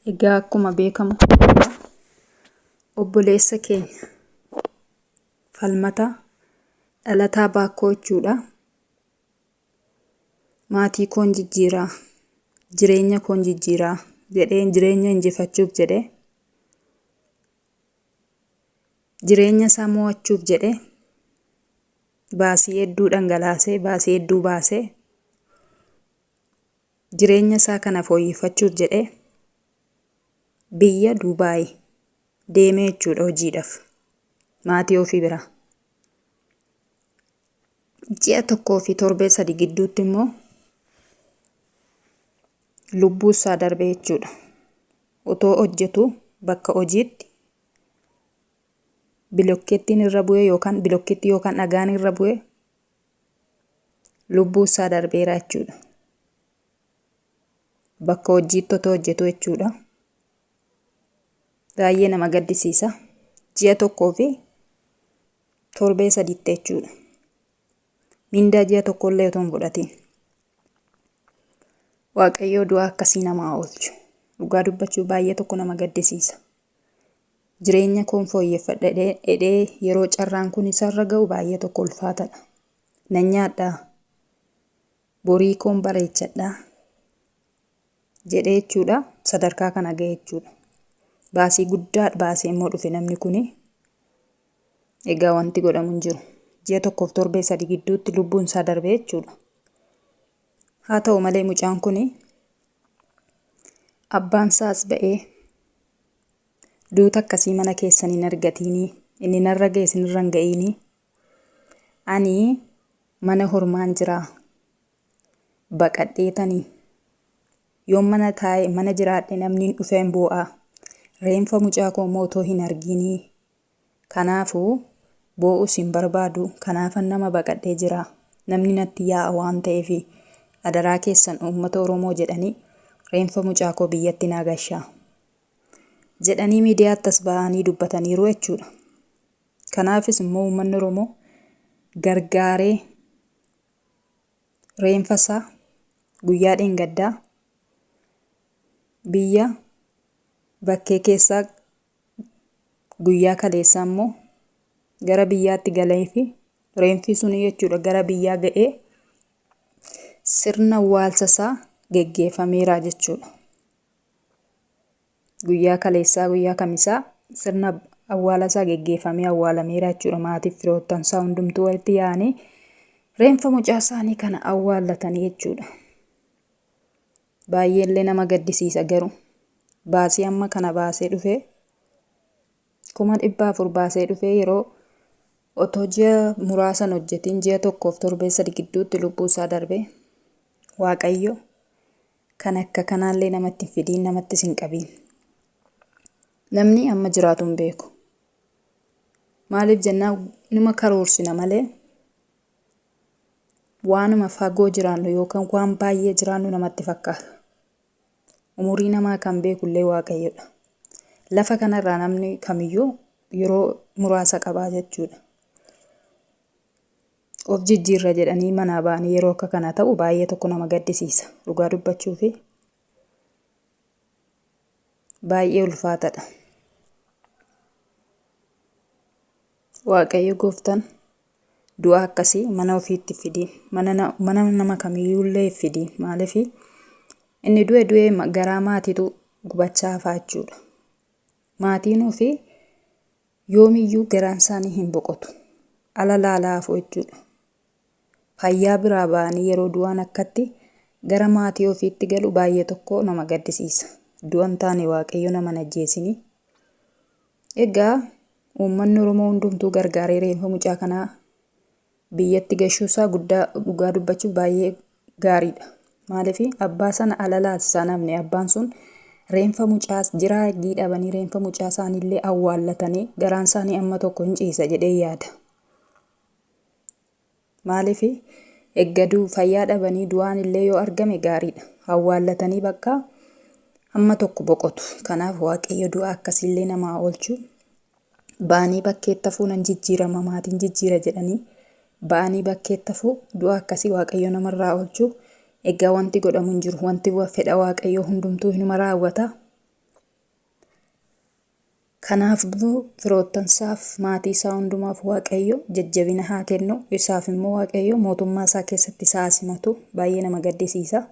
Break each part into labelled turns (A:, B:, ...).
A: Egaa akkuma beekamu obboleessa keenya falmataa dhalataa baakkoo jechuudha. Maatii koon jijjiiraa, jireenya koon jijjiiraa jedhee jireenya injifachuuf jedhee jireenya isaa mo'achuuf jedhee baasii hedduu dhangalaasee baasii hedduu baasee Jireenya isaa kana fooyyeffachuuf jedhee biyya Duubaayi deemee jechuudha hojiidhaaf maatii ofii biraa. Ji'a tokkoo fi torbee sadi gidduutti immoo lubbuu isaa darbe jechuudha. Otoo hojjetu bakka hojiitti bilokkeettiin irra bu'ee yookaan bilokkeettii yookaan dhagaan irra bu'ee lubbuu isaa darbeera jechuudha. Bakka hojiitti otoo hojjetu jechuudha. Baay'ee nama gaddisiisa. Ji'a tokkoo fi torbee sadiitti jechuudha. Mindaa ji'a tokkollee otoo hin fudhatiin. Waaqayyoo du'aa akkasii namaa oolchu. Dhugaa dubbachuu baay'ee tokko nama gaddisiisa. Jireenya koon fooyyeffadha jedhee yeroo carraan kun isarra ga'u baay'ee tokko ulfaatadha. Nan nyaadhaa? Borii koon bareechadhaa? jedhee jechuudha sadarkaa kana ga'e jechuudha. Baasii guddaa baasee immoo dhufe namni kuni. Egaa wanti godhamu hin jiru. Ji'a tokkoof torbee sadii gidduutti lubbuun isaa darbee jechuudha. Haa ta'u malee mucaan kun abbaan isaas ba'ee duuta akkasii mana keessan hin argatiinii inni narra ga'e isinirra hin ga'iinii ani mana hormaan jiraa baqadheetanii yoon mana taa'e mana jiraadhe namni hin dhufeen boo'aa reenfa mucaa koo immoo otoo hin argiinii Kanaafuu, boo'us hin barbaadu, kanaafan nama baqadhee jira. Namni natti yaa'a waan ta'eefi. Adaraa keessan uummata Oromoo jedhanii reenfa mucaa koo biyyatti naa gashaa. Jedhanii miidiyaatti as ba'anii dubbataniiru jechuudha. Kanaafis immoo uummanni Oromoo gargaaree reenfa isaa guyyaa dheengaddaa biyya bakkee keessaa guyyaa kaleessaa immoo gara biyyaatti galee fi reenfii sunii jechuudha gara biyyaa ga'ee sirna waalsa isaa geggeeffameera jechuudha. Guyyaa kaleessaa guyyaa kamisaa sirna awwaala isaa geggeeffamee awwaalameera jechuudha maatiif firoottan isaa hundumtuu walitti yaa'anii reenfa mucaa isaanii kana awwaallatanii jechuudha. Baayyeellee nama gaddisiisa garuu baasii amma kana baasee dhufee kuma dhibba afur baasee dhufee yeroo otoo ji'a muraasan hojjetiin ji'a tokkoof torbee sadi gidduutti lubbuu isaa darbee waaqayyo kan akka kanaallee namatti hin fidiin namattis hin qabiin namni amma jiraatu hin beeku maaliif jennaa numa karoorsina malee waanuma fagoo jiraannu yookaan waan baay'ee jiraannu namatti fakkaata. Umurii namaa kan beeku illee waaqayyoodha. Lafa kanarraa namni kamiyyuu yeroo muraasa qabaa jechuudha. Of jijjiirra jedhanii manaa ba'anii yeroo akka kana ta'u baay'ee tokko nama gaddisiisa. Dhugaa dubbachuu fi baay'ee ulfaatadha. Waaqayyo gooftaan du'a akkasii mana ofiitti fidiin mana na- mana nama kamiyyuullee hin fidiin maaliifi inni du'e du'e ma- garaa maatiitu gubachaa hafaa jechuudha maatiin ofii yoomiyyuu garaan isaanii hin boqotu ala laalaa hafuu jechuudha fayyaa biraa ba'anii yeroo du'aan akkatti gara maatii ofiitti galu baay'ee tokko nama gaddisiisa du'an taane waaqayyo nama hin ajjeesinii Egaa uummanni Oromoo hundumtuu gargaaree reenfa mucaa kanaa biyyatti gashuu isaa guddaa dhugaa dubbachuuf baay'ee gaariidha. Maaliif abbaa sana alalaati isaan hafne abbaan sun reenfa mucaa jiraa eggii dhabanii reenfa mucaa isaaniillee awwaallatanii garaan isaanii amma tokko hin ciisa jedhee yaada. Maaliif? Egga du, fayyaa dhabanii du'aan illee yoo argame gaariidha. Awwaallatanii bakkaa hamma tokko boqotu. Kanaaf Waaqayyo du'a akkasii illee nama haa oolchu. Ba'anii bakkeetti hafuu nan jijjiirama maatiin jijjiira jedhanii ba'anii bakkeetti hafuu du'a akkasii Waaqayyo namarraa oolchu. Egaa wanti godhamu hin jiru. Wanti wa- fedha Waaqayyoo hundumtuu hinuma raawwata. Kanaafbmmoo firoottansaaf, maatiisaa hundumaaf Waaqayyo jajjabina haa kennu. Isaafimmoo Waaqayyo mootummaasaa keessatti isa haa simatu. Baay'ee nama gaddisiisa.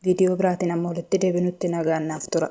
A: Viidiyoo biraatiin amma walitti deebinutti nagaan naaf tura.